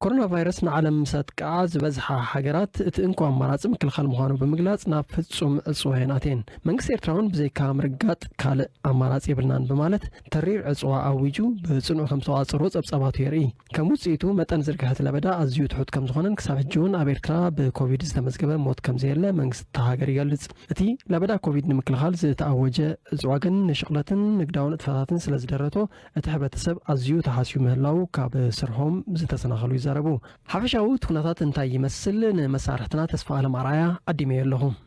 ኮሮና ቫይረስ ንዓለም ምስ ኣጥቅዓ ዝበዝሓ ሃገራት እቲ እንኮ ኣማራፂ ምክልኻል ምዃኑ ብምግላፅ ናብ ፍፁም ዕፅዋ እየን ኣትየን። መንግስቲ ኤርትራ እውን ብዘይካ ምርጋጥ ካልእ ኣማራፂ የብልናን ብማለት ተሪር ዕፅዋ ኣዊጁ ብፅኑዕ ከምዝተቖፃፀርዎ ፀብፃባቱ የርእይ። ከም ውጽኢቱ፣ መጠን ዝርግሐት ለበዳ ኣዝዩ ትሑት ከም ዝኾነን ክሳብ ሕጂ'ውን ኣብ ኤርትራ ብኮቪድ ዝተመዝገበ ሞት ከም ዘየለ መንግስቲ እታ ሃገር ይገልጽ። እቲ ለበዳ ኮቪድ ንምክልኻል ዝተኣወጀ ዕጽዋ ግን ንሽቕለትን ንግዳዊ ንጥፈታትን ስለ ዝደረቶ እቲ ሕብረተሰብ ኣዝዩ ተሃስዩ ምህላዉ ካብ ስርሖም ዝተሰናኸሉ ይዛረቡ። ሓፈሻዊ እቲ ኩነታት እንታይ ይመስል? ንመሳርሕትና ተስፋኣለም ኣርኣያ ዓዲመዮ ኣለኹ።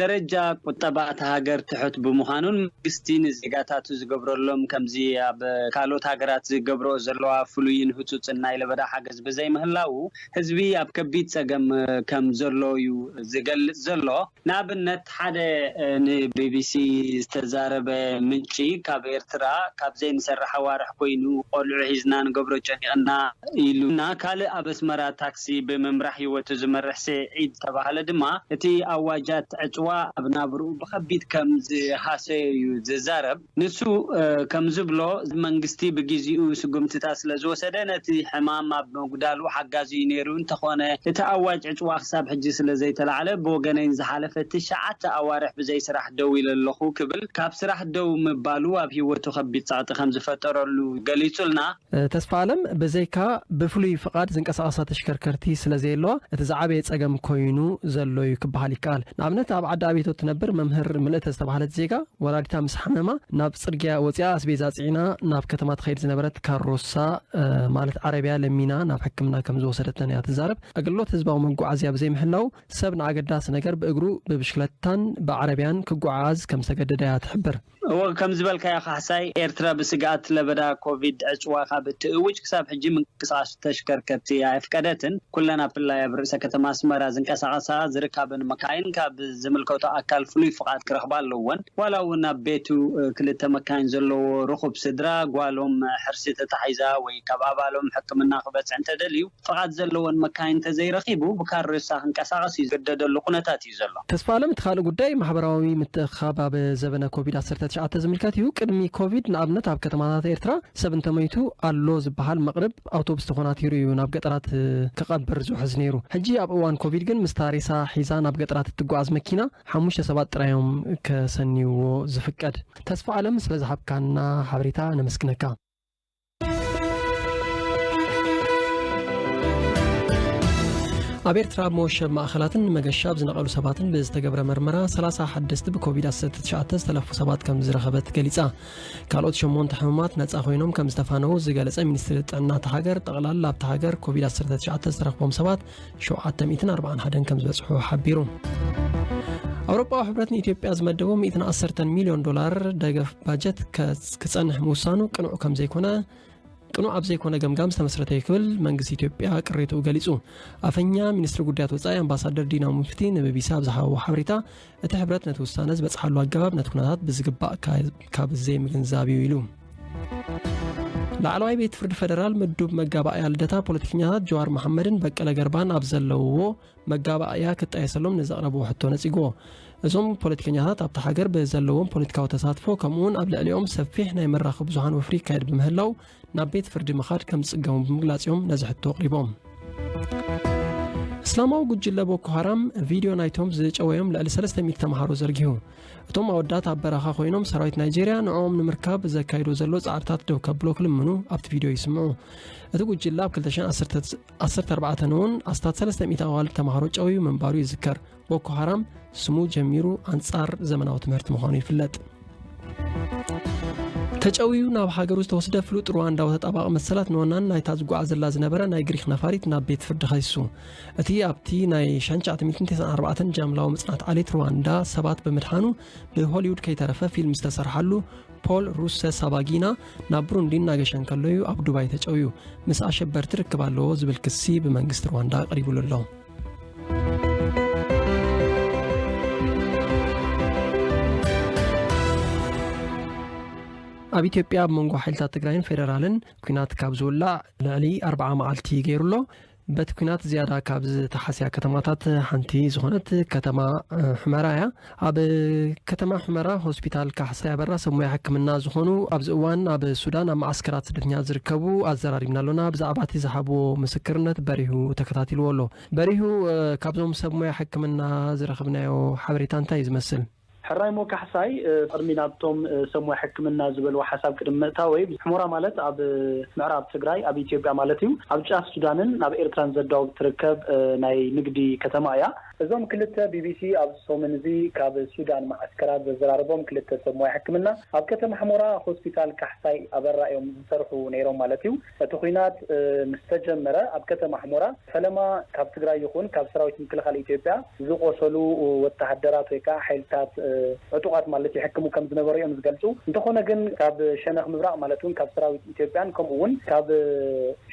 ደረጃ ቁጠባ እታ ሃገር ትሑት ብምዃኑን መንግስቲ ንዜጋታቱ ዝገብረሎም ከምዚ ኣብ ካልኦት ሃገራት ዝገብረኦ ዘለዋ ፍሉይን ህጹጽን ናይ ለበዳ ሓገዝ ብዘይምህላዉ ህዝቢ ኣብ ከቢድ ጸገም ከም ዘሎ'ዩ ዝገልጽ ዘሎ። ንኣብነት ሓደ ንቢቢሲ ዝተዛረበ ምንጪ ካብ ኤርትራ ካብ ዘይንሰርሕ ኣዋርሕ ኮይኑ ቆልዑ ሒዝና ንገብሮ ጨኒቕና ኢሉና ካልእ ኣብ ኣስመራ ታክሲ ነዚ ብምምራሕ ህይወቱ ዝመርሕ ስዒድ ተባህለ ድማ፣ እቲ ኣዋጃት ዕጽዋ ኣብ ናብርኡ ብኸቢድ ከም ዝሃሰዮ'ዩ ዝዛረብ። ንሱ ከም ዝብሎ፣ መንግስቲ ብግዜኡ ስጉምትታት ስለ ዝወሰደ፣ ነቲ ሕማም ኣብ ምጕዳሉ ሓጋዚ'ዩ ነይሩ። እንተዀነ፣ እቲ ኣዋጅ ዕጽዋ ክሳብ ሕጂ ስለ ዘይተላዕለ፣ ብወገነይ ንዝሓለፈ ትሽዓተ ኣዋርሕ ብዘይ ስራሕ ደው ኢለ ኣለኹ ክብል ካብ ስራሕ ደው ምባሉ ኣብ ህይወቱ ከቢድ ጸቕጢ ከም ዝፈጠረሉ ገሊጹልና። ተስፋኣለም፣ ብዘይካ ብፍሉይ ፍቓድ ዝንቀሳቐሳ ተሽከርከርቲ ስለ ዘየለዋ፣ እቲ ዝዓበየ ጸገም ኰይኑ ዘሎ'ዩ ክበሃል ይከኣል። ንኣብነት ኣብ ዓዲ ኣቤቶ እትነብር መምህር ምልእተ ዝተባህለት ዜጋ፣ ወላዲታ ምስ ሓመማ ናብ ጽርግያ ወጺኣ ኣስቤዛ ጽዒና ናብ ከተማ ትኸይድ ዝነበረት ካሮሳ ማለት ዓረብያ ለሚና ናብ ሕክምና ከም ዝወሰደተን'ያ ትዛረብ። ኣገልግሎት ህዝባዊ መጓዓዝያ ብዘይምህላዉ፣ ሰብ ንኣገዳሲ ነገር ብእግሩ፣ ብብሽክለታን ብዓረብያን ክጓዓዓዝ ከም ዝተገደደ'ያ ትሕብር። እወ ከም ዝበልካዮ ካሕሳይ፣ ኤርትራ ብስግኣት ለበዳ ኮቪድ ዕጽዋ ካብ እትእውጅ ክሳብ ሕጂ ምንቅስቓስ ተሽከርከርቲ ኣየፍቀደትን። ኩለን ኣብ ፍላይ ኣብ ርእሰ ከተማ ኣስመራ ዝንቀሳቐሳ ዝርካበን መካይን ካብ ዝምልከቶ ኣካል ፍሉይ ፍቓድ ክረኽባ ኣለወን። ዋላ እውን ኣብ ቤቱ ክልተ መካይን ዘለዎ ርኹብ ስድራ ጓሎም ሕርሲ ተታሒዛ ወይ ካብ ኣባሎም ሕክምና ክበጽሕ እንተደልዩ ፍቓድ ዘለወን መካይን እንተዘይረኺቡ ብካሬሳ ክንቀሳቐስ ዝግደደሉ ኩነታት እዩ። እዩ ዘሎ። ተስፋኣለም እቲ ካልእ ጉዳይ ማሕበራዊ ምትእኽኻብ ኣብ ዘበነ ኮቪድ ዓሰርተ ትሽዓተ ዝምልከት እዩ። ቅድሚ ኮቪድ ንኣብነት ኣብ ከተማታት ኤርትራ ሰብ እንተሞይቱ ኣሎ ዝበሃል መቕርብ ኣውቶቡስ ተኾናቲሩ እዩ ናብ ገጠራት ክቐብር ዝውሕዝ ነይሩ። ሕጂ ኣብ እዋን ኮቪድ ግን ምስታ ሬሳ ሒዛ ናብ ገጠራት እትጓዓዝ መኪና ሓሙሽተ ሰባት ጥራይ እዮም ከሰንይዎ ዝፍቀድ። ተስፋኣለም ስለዝሃብካና ሓበሬታ ነመስግነካ። ኣብ ኤርትራ ኣብ መወሸብ ማእኸላትን ንመገሻ ኣብ ዝነቐሉ ሰባትን ብዝተገብረ መርመራ 30 ሓደስቲ ብኮቪድ-19 ዝተለፉ ሰባት ከም ዝረኸበት ገሊጻ ካልኦት ሸሞንተ ሕሙማት ነፃ ኮይኖም ከም ዝተፋነዉ ዝገለጸ ሚኒስትሪ ጥዕና እታ ሃገር ጠቕላላ ኣብታ ሃገር ኮቪድ-19 ዝተረኽቦም ሰባት ሸውዓተ ሚእትን ኣርባዓን ሓደን ከም ዝበጽሑ ሓቢሩ። ኣውሮፓዊ ሕብረት ንኢትዮጵያ ዝመደቦ 110 ሚልዮን ዶላር ደገፍ ባጀት ክጸንሕ ምውሳኑ ቅኑዕ ከም ዘይኮነ ቅኑዕ ኣብ ዘይኮነ ገምጋም ዝተመስረተ እዩ ክብል መንግስቲ ኢትዮጵያ ቅሬትኡ ገሊጹ ኣፈኛ ሚኒስትሪ ጉዳያት ወፃኢ ኣምባሳደር ዲና ሙፍቲ ንቢቢሲ ኣብ ዝሃበዎ ሓበሬታ እቲ ሕብረት ነቲ ውሳነ ዝበጽሓሉ ኣገባብ ነቲ ኩነታት ብዝግባእ ካብ ዘይምግንዛብ እዩ ኢሉ ላዕለዋይ ቤት ፍርዲ ፈደራል ምዱብ መጋባእያ ልደታ ፖለቲከኛታት ጀዋር መሓመድን በቀለ ገርባን ኣብ ዘለውዎ መጋባእያ ክጣየሰሎም ንዘቕረብዎ ሕቶ ነጺግዎ እዞም ፖለቲከኛታት ኣብቲ ሃገር ብዘለዎም ፖለቲካዊ ተሳትፎ ከምኡውን ኣብ ልዕሊኦም ሰፊሕ ናይ መራኸቢ ብዙሃን ወፍሪ ይካየድ ብምህላው ናብ ቤት ፍርዲ ምኻድ ከም ዝጽገሙ ብምግላጽ እዮም ነዚ ሕቶ ኣቕሪቦም እስላማዊ ጉጅለ ቦኮ ሃራም ቪድዮ ናይቶም ዝጨወዮም ልዕሊ 300 ተምሃሮ ዘርጊሁ እቶም ኣወዳት ኣብ በረኻ ኮይኖም ሰራዊት ናይጀርያ ንዕኦም ንምርካብ ዘካይዶ ዘሎ ፃዕርታት ደው ከብሎ ክልምኑ ኣብቲ ቪድዮ ይስምዑ እቲ ጉጅለ ኣብ 214 እውን ኣስታት 300 ኣዋልድ ተምሃሮ ጨውዩ ምንባሩ ይዝከር ቦኮ ሃራም ስሙ ጀሚሩ ኣንጻር ዘመናዊ ትምህርቲ ምዃኑ ይፍለጥ ተጨውዩ ናብ ሃገሩ ዝተወስደ ፍሉጥ ሩዋንዳዊ ተጣባቂ መሰላት ንወናን ናይታ ዝጓዓዘላ ዝነበረ ናይ ግሪክ ነፋሪት ናብ ቤት ፍርዲ ከሲሱ እቲ ኣብቲ ናይ 994 ጃምላዊ ምጽናት ዓሌት ሩዋንዳ ሰባት ብምድሓኑ ብሆሊውድ ከይተረፈ ፊልም ዝተሰርሓሉ ፖል ሩሰ ሳባጊና ናብ ብሩንዲ እናገሸ እንከሎ እዩ ኣብ ዱባይ ተጨውዩ ምስ ኣሸበርቲ ርክብ ኣለዎ ዝብል ክሲ ብመንግስቲ ሩዋንዳ ቀሪቡሉ ኣሎ ኣብ ኢትዮጵያ ኣብ መንጎ ሓይልታት ትግራይን ፌደራልን ኩናት ካብ ዝውላዕ ልዕሊ ኣርዓ መዓልቲ ገይሩ ኣሎ በቲ ኩናት ዝያዳ ካብ ዝተሓስያ ከተማታት ሓንቲ ዝኾነት ከተማ ሕመራ እያ ኣብ ከተማ ሑመራ ሆስፒታል ካሕሳይ ኣበራ ሰብ ሞያ ሕክምና ዝኾኑ ኣብዚ እዋን ኣብ ሱዳን ኣብ መዓስከራት ስደተኛታት ዝርከቡ ኣዘራሪብና ኣሎና። ብዛዕባ እቲ ዝሃብዎ ምስክርነት በሪሁ ተከታቲልዎ ኣሎ። በሪሁ ካብዞም ሰብ ሞያ ሕክምና ዝረኽብናዮ ሓበሬታ እንታይ እዩ ዝመስል? ሕራይሞ ካሕሳይ ቅድሚ ናብቶም ሰብ ሞያ ሕክምና ዝበልዎ ሓሳብ ቅድሚ ምእታወይ፣ ሑመራ ማለት ኣብ ምዕራብ ትግራይ ኣብ ኢትዮጵያ ማለት እዩ። ኣብ ጫፍ ሱዳንን ኣብ ኤርትራን ዘዳውብ ትርከብ ናይ ንግዲ ከተማ እያ። እዞም ክልተ ቢቢሲ ኣብዚ ሰሙን እዚ ካብ ሱዳን መዓስከራት ዘዘራረቦም ክልተ ሰብ ሞያ ሕክምና፣ ኣብ ከተማ ሕሞራ ሆስፒታል ካሕሳይ ኣበራ እዮም ዝሰርሑ ነይሮም ማለት እዩ። እቲ ኹናት ምስ ተጀመረ ኣብ ከተማ ሕሞራ ፈለማ ካብ ትግራይ ይኹን ካብ ሰራዊት ምክልኻል ኢትዮጵያ ዝቖሰሉ ወተሃደራት ወይ ከዓ ሓይልታት ዕጡቓት ማለት ይሕክሙ ከም ዝነበሩ እዮም ዝገልፁ። እንተኾነ ግን ካብ ሸነኽ ምብራቕ ማለት እውን ካብ ሰራዊት ኢትዮጵያን ከምኡ እውን ካብ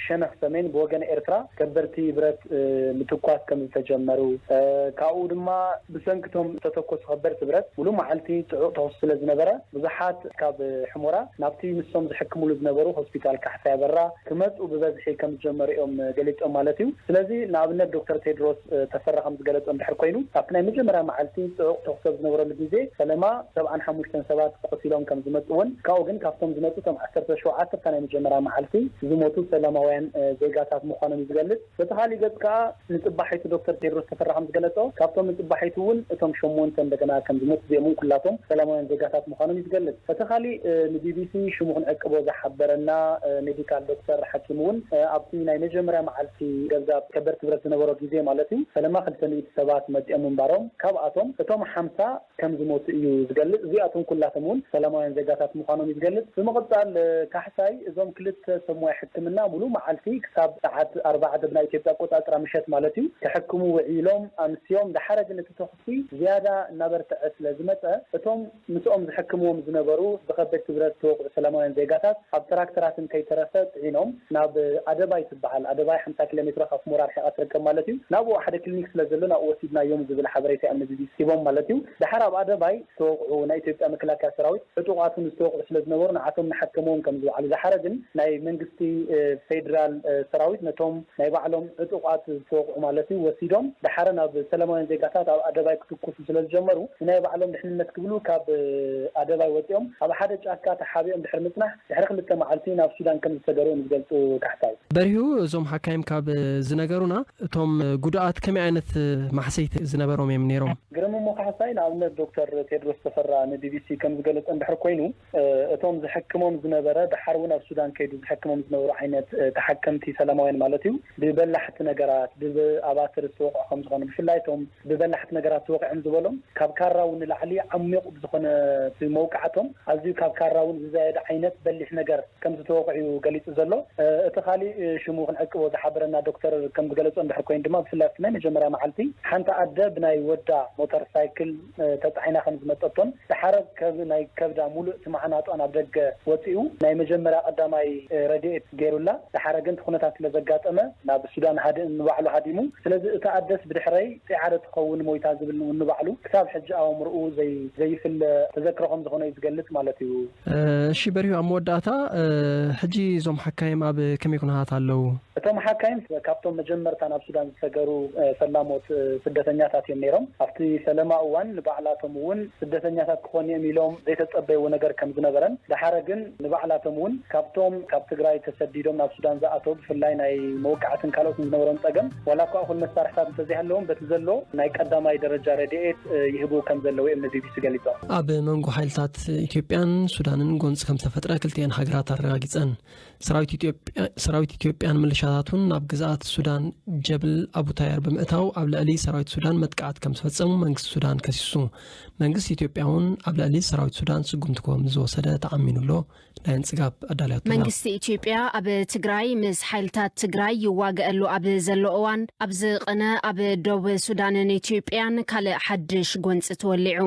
ሸነኽ ሰሜን ብወገን ኤርትራ ከበድቲ ብረት ምትኳስ ከም ዝተጀመሩ፣ ካብኡ ድማ ብሰንኪ እቶም ዝተተኮሱ ከበድቲ ብረት ምሉእ መዓልቲ ጽዑቕ ተኹሲ ስለ ዝነበረ፣ ብዙሓት ካብ ሕሞራ ናብቲ ንሶም ዝሕክምሉ ዝነበሩ ሆስፒታል ካሕሳይ ኣበራ ክመጽኡ ብበዝሒ ከም ዝጀመሩ'ዮም ገሊጾም ማለት'ዩ። ስለዚ ንኣብነት ዶክተር ቴድሮስ ተፈራ ከም ዝገለጾ እንድሕር ኮይኑ፣ ኣብቲ ናይ መጀመርያ መዓልቲ ጽዑቕ ተኹሲ ኣብ ዝነበረሉ ግዜ ፈለማ፣ ሰብዓን ሓሙሽተን ሰባት ቆሲሎም ከም ዝመጽኡ እውን ካብኡ ግን ካብቶም ዝመጹ እቶም ዓሰርተ ሸውዓተ እታ ናይ መጀመርያ መዓልቲ ዝሞቱ ሰላማውያን ዜጋታት ምዃኖም እዩ ዝገልጽ። በቲ ካሊእ ገጽ ከኣ ንጽባሒቱ ዶክተር ቴድሮስ ተፈራ ከም ዝገለጾ ካብቶም ንጽባሒቱ እውን እቶም ሸሞንተ እንደገና ከም ዝሞቱ እዚኦም እውን ኩላቶም ሰላማውያን ዜጋታት ምዃኖም እዩ ዝገልጽ። እቲ ካሊእ ንቢቢሲ ሽሙ ክንዕቅቦ ዝሓበረና ሜዲካል ዶክተር ሓኪም እውን ኣብቲ ናይ መጀመርያ መዓልቲ ገዛ ከበድቲ ብረት ዝነበሮ ግዜ ማለት እዩ ፈለማ ክልተ ሚእቲ ሰባት መጺኦም ምንባሮም ካብኣቶም እቶም ሓምሳ ከም ዝሞቱ እዩ ዝገልጽ። እዚኣቶም ኩላቶም እውን ሰላማውያን ዜጋታት ምዃኖም እዩ ዝገልጽ። ብምቕጻል ካሕሳይ እዞም ክልተ ሰብ ሞያ ሕክምና ምሉእ መዓልቲ ክሳብ ሰዓት ኣርባዕተ ብናይ ኢትዮጵያ ኣቆጻጽራ ምሸት ማለት እዩ ክሕክሙ ውዒሎም ኣምስዮም። ደሓረ ግን እቲ ተኹሲ ዝያዳ እናበርተዐ ስለ ዝመጸ እቶም ምስኦም ዝሕክምዎም ዝነበሩ ብከበድቲ ብረት ዝተወቕዑ ሰላማውያን ዜጋታት ኣብ ትራክተራትን ከይተረፈ ጽዒኖም ናብ ኣደባይ ይበሃል። ኣደባይ ሓምሳ ኪሎሜትሮ ካብ ሑመራ ኣርሒቓ ትርከብ ማለት እዩ። ናብኡ ሓደ ክሊኒክ ስለ ዘሎ ናብኡ ወሲድናዮም ዝብል ሓበሬታ እዮም ንቢቢሲ ሂቦም ማለት እዩ። ደሓር ኣብ ኣደባይ ዝተወቕዑ ናይ ኢትዮጵያ መከላከያ ሰራዊት ዕጡቓት እውን ዝተወቕዑ ስለ ዝነበሩ ንዓቶም እናሓከምዎም ከም ዝውዓሉ ዝሓረ ግን ናይ መንግስቲ ፌድራል ሰራዊት ነቶም ናይ ባዕሎም ዕጡቓት ዝተወቕዑ ማለት እዩ ወሲዶም ደሓረ ናብ ሰላማውያን ዜጋታት ኣብ ኣደባይ ክትኩሱ ስለ ዝጀመሩ ንናይ ባዕሎም ድሕንነት ክብሉ ካብ ኣደባይ ወፂኦም ኣብ ሓደ ጫካ ተሓቢኦም ድሕሪ ምፅናሕ ድሕሪ ክልተ መዓልቲ ናብ ሱዳን ከም ዝሰገሩ እዮም ዝገልጹ ካሕሳይ። በሪሁ፣ እዞም ሓካይም ካብ ዝነገሩና እቶም ጉዱኣት ከመይ ዓይነት ማህሰይቲ ዝነበሮም እዮም ነይሮም? ግርም፣ እሞ ካሕሳይ ንኣብነት ዶክተር ቴድሮስ ተፈራ ንቢቢሲ ከም ዝገለጾ እንድሕር ኮይኑ እቶም ዝሕክሞም ዝነበረ ደሓር እውን ኣብ ሱዳን ከይዱ ዝሕክሞም ዝነበሩ ዓይነት ተሓከምቲ ሰላማውያን ማለት እዩ ብበላሕቲ ነገራት ብኣባትር ዝተወቕዑ ከም ዝኾኑ ብፍላይ እቶም ብበላሕቲ ነገራት ተወቒዖም ዝበሎም ካብ ካራ'ውን ንላዕሊ ዓሚቝ ብዝኾነ እቲ መውቃዕቶም ኣዝዩ ካብ ካራ'ውን ዝዛየደ ዓይነት በሊሕ ነገር ከም ዝተወቕዑ'ዩ ገሊጹ ዘሎ። እቲ ካልእ ሽሙ ክንዕቅቦ ዝሓበረና ዶክተር ከም ዝገለጾ እንድሕር ኮይኑ ድማ ብፍላይ ኣብቲ ናይ መጀመርያ መዓልቲ ሓንቲ ኣደ ብናይ ወዳ ሞተር ሳይክል ተጻዒና ከም ዝመጸቶን ድሓር ናይ ከብዳ ምሉእ እቲ ማዓናጧ ናብ ደገ ወጺኡ ናይ መጀመርያ ቀዳማይ ረድኤት ገይሩላ ደሓረ ግን እቲ ኩነታት ስለ ዘጋጠመ ናብ ሱዳን ሃድእን ንባዕሉ ሃዲሙ ስለዚ እታ ኣደስ ብድሕረይ ጺዓደ ትኸውን ሞይታ ዝብል ውን ንባዕሉ ክሳብ ሕጂ ኣእምርኡ ዘይ ዘይፍለ ተዘክሮ ከም ዝኾኖ እዩ ዝገልጽ ማለት እዩ። እሺ በሪሁ ኣብ መወዳእታ ሕጂ እዞም ሓካይም ኣብ ከመይ ኩነታት ኣለው? እቶም ሓካይም ካብቶም መጀመርታ ናብ ሱዳን ዝሰገሩ ፈላሞት ስደተኛታት እዮም ነይሮም። ኣብቲ ፈለማ እዋን ንባዕላቶም ውን ስደተኛታት ክኾኑ'ዮም ኢሎም ዘይተጸበይዎ ነገር ከም ዝነበረን ደሓረ ግን፣ ንባዕላቶም እውን ካብቶም ካብ ትግራይ ተሰዲዶም ናብ ሱዳን ዝኣተው ብፍላይ ናይ መወቃዕትን ካልኦትን ዝነበሮም ፀገም ዋላ እኳ እኹል መሳርሕታት እንተዘይሃለዎም በቲ ዘሎ ናይ ቀዳማይ ደረጃ ረድኤት ይህቡ ከምዘለው እዮም ንቢቢሲ ገሊፆም። ኣብ መንጎ ሓይልታት ኢትዮጵያን ሱዳንን ጎንፂ ከምዝተፈጥረ ክልቲኤን ሃገራት ኣረጋጊፀን። ሰራዊት ኢትዮጵያን ምልሻታቱን ናብ ግዝኣት ሱዳን ጀብል ኣቡታየር ብምእታው ኣብ ልዕሊ ሰራዊት ሱዳን መጥቃዕቲ ከምዝፈፀሙ መንግስቲ ሱዳን ከሲሱ። መንግስቲ ኢትዮጵያ እውን ኣብ ልዕሊ ሰራዊት ሱዳን ስጉምቲ ከም ዝወሰደ ተኣሚኑ ኣሎ። ናይ እንጽጋብ ኣዳልያቶ ኣላ። መንግስቲ ኢትዮጵያ ኣብ ትግራይ ምስ ሓይልታት ትግራይ ይዋገኣሉ ኣብ ዘሎ እዋን ኣብ ዝቐነ ኣብ ዶብ ሱዳንን ኢትዮጵያን ካልእ ሓድሽ ጎንፂ ተወሊዑ።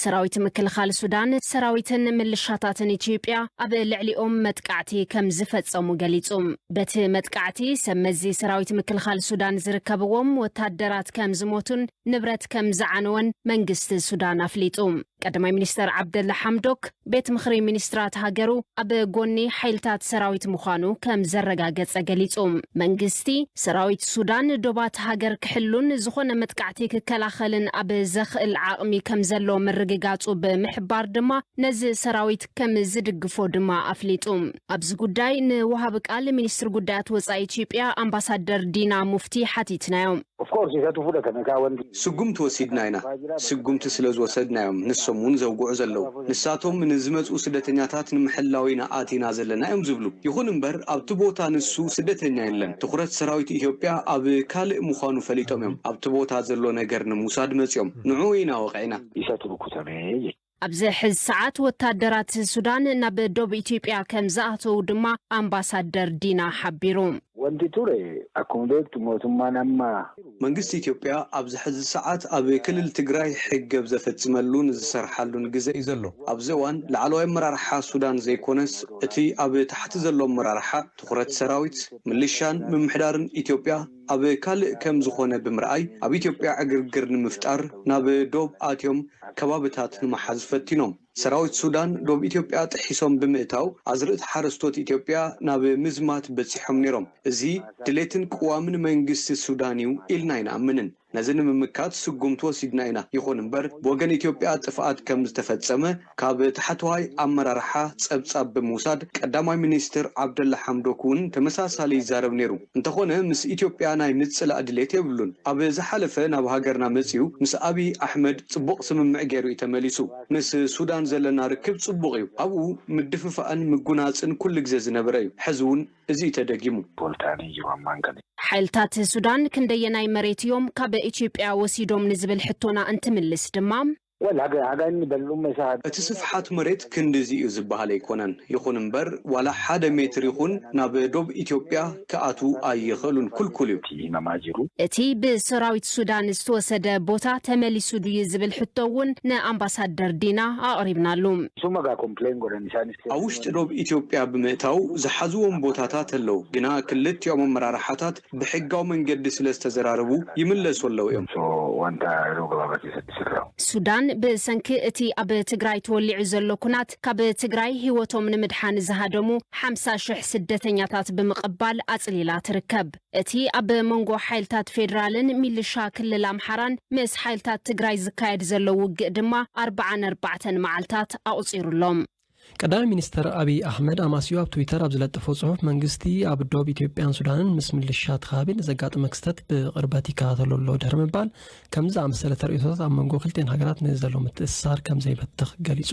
ሰራዊት ምክልኻል ሱዳን ሰራዊትን ምልሻታትን ኢትዮጵያ ኣብ ልዕሊኦም መጥቃዕቲ ከም ዝፈጸሙ ገሊጹ። በቲ መጥቃዕቲ ሰብ መዚ ሰራዊት ምክልኻል ሱዳን ዝርከብዎም ወታደራት ከም ዝሞቱን ንብረት ከም ዝዓነወን መንግስቲ ሱዳን ኣፍሊጡ። ቀዳማይ ሚኒስተር ዓብደላ ሓምዶክ፣ ቤት ምኽሪ ሚኒስትራት ሃገሩ ኣብ ጎኒ ሓይልታት ሰራዊት ምዃኑ ከም ዘረጋገጸ ገሊጹ። መንግስቲ፣ ሰራዊት ሱዳን ዶባት ሃገር ክሕሉን ዝኾነ መጥቃዕቲ ክከላኸልን ኣብ ዘኽእል ዓቕሚ ከም ዘሎ ምርግጋጹ ብምሕባር ድማ ነዚ ሰራዊት ከም ዝድግፎ ድማ ኣፍሊጡ። ኣብዚ ጉዳይ ንወሃቢ ቃል ሚኒስትሪ ጉዳያት ወፃኢ ኢትዮጵያ ኣምባሳደር ዲና ሙፍቲ ሓቲትናዮም። ስጉምቲ ወሲድና ኢና። ስጉምቲ ስለ ዝወሰድና'ዮም ንሶም እውን ዘውግዑ ዘለዉ። ንሳቶም ንዝመፅኡ ስደተኛታት ንምሕላው ኢና ኣቲና ዘለና እዮም ዝብሉ። ይኹን እምበር ኣብቲ ቦታ ንሱ ስደተኛ የለን። ትኹረት ሰራዊት ኢትዮጵያ ኣብ ካልእ ምዃኑ ፈሊጦም እዮም ኣብቲ ቦታ ዘሎ ነገር ንምውሳድ መፂኦም። ንዕኡ ኢና ወቒዕና። ኣብዚ ሕዚ ሰዓት ወታደራት ሱዳን ናብ ዶብ ኢትዮጵያ ከም ዝኣተዉ ድማ ኣምባሳደር ዲና ሓቢሩ። Wanti ture akkuma beektu mootummaan amma. መንግስቲ ኢትዮጵያ ኣብዚ ሕዚ ሰዓት ኣብ ክልል ትግራይ ሕገብ ዘፈፅመሉን ዝሰርሓሉን ግዘ እዩ ዘሎ። ኣብዚ እዋን ላዕለዋይ ኣመራርሓ ሱዳን ዘይኮነስ እቲ ኣብ ታሕቲ ዘሎ ኣመራርሓ ትኹረት ሰራዊት፣ ምልሻን ምምሕዳርን ኢትዮጵያ፣ ኣብ ካልእ ከም ዝኾነ ብምርኣይ ኣብ ኢትዮጵያ ዕግርግር ንምፍጣር ናብ ዶብ ኣትዮም ከባብታት ንምሓዝ ፈቲኖም። ሰራዊት ሱዳን ዶብ ኢትዮጵያ ጥሒሶም ብምእታው ኣዝርእቲ ሓረስቶት ኢትዮጵያ ናብ ምዝማት በጺሖም ነይሮም። እዚ ድሌትን ቅዋምን መንግስቲ ሱዳን'ዩ ኢልና ኣይንኣምንን። ነዚ ንምምካት ስጉምቲ ወሲድና ኢና። ይኹን እምበር ብወገን ኢትዮጵያ ጥፍኣት ከም ዝተፈጸመ ካብ ታሕተዋይ ኣመራርሓ ጸብጻብ ብምውሳድ፣ ቀዳማይ ሚኒስትር ዓብደላ ሓምዶክ'ውን ተመሳሳሊ ይዛረብ ነይሩ። እንተኾነ ምስ ኢትዮጵያ ናይ ምጽላእ ድሌት የብሉን። ኣብ ዝሓለፈ ናብ ሃገርና መጺኡ ምስ ኣብይ ኣሕመድ ጽቡቕ ስምምዕ ገይሩ'ዩ ተመሊሱ። ምስ ሱዳን ዘለና ርክብ ጽቡቕ'ዩ። ኣብኡ ምድፍፋእን ምጉናጽን ኩሉ ግዜ ዝነበረ'ዩ። ሕዚ'ውን እዚ'ዩ ተደጊሙ። ቦልታኒ ጅማ ማንገሊ። ሓይልታት ሱዳን ክንደየናይ መሬት'ዮም ካብ ኢትዮጵያ ወሲዶም ንዝብል ሕቶና እንትምልስ ድማ፣ እቲ ስፍሓት መሬት ክንድዚ'ዩ ዝበሃል ኣይኮነን። ይኹን እምበር ዋላ ሓደ ሜትር ይኹን ናብ ዶብ ኢትዮጵያ ክኣትዉ ኣይኽእሉን፣ ክልኩል'ዩ። እቲ ብሰራዊት ሱዳን ዝተወሰደ ቦታ ተመሊሱ ድዩ ዝብል ሕቶ እውን ንኣምባሳደር ዲና ኣቕሪብናሉ። ኣብ ውሽጢ ዶብ ኢትዮጵያ ብምእታው ዝሓዝዎም ቦታታት ኣለዉ፣ ግና ክልቲኦም ኣመራርሓታት ብሕጋዊ መንገዲ ስለ ዝተዘራረቡ ይምለሱ ኣለዉ እዮም። ሱዳን ብሰንኪ እቲ ኣብ ትግራይ ተወሊዑ ዘሎ ኩናት ካብ ትግራይ ህይወቶም ንምድሓን ዝሃደሙ ሓምሳ ሽሕ ስደተኛታት ብምቕባል ኣፅሊላ ትርከብ። እቲ ኣብ መንጎ ሓይልታት ፌዴራልን ሚልሻ ክልል ኣምሓራን ምስ ሓይልታት ትግራይ ዝካየድ ዘሎ ውግእ ድማ ኣርብዓ ነርባዕተን መዓልታት ኣቑፂሩሎም። ቀዳማይ ሚኒስተር ኣብይ ኣሕመድ ኣማስዩ ኣብ ትዊተር ኣብ ዝለጠፎ ጽሑፍ መንግስቲ ኣብ ዶብ ኢትዮጵያን ሱዳንን ምስ ምልሻ እቲ ከባቢ ንዘጋጥመ ክስተት ብቕርበት ይከታተሎ ኣሎ ድሕሪ ምባል ከምዚ ዝኣመሰለ ተርእዮታት ኣብ መንጎ ክልቲኤን ሃገራት ንዘሎ ምትእስሳር ከም ዘይበትኽ ገሊጹ።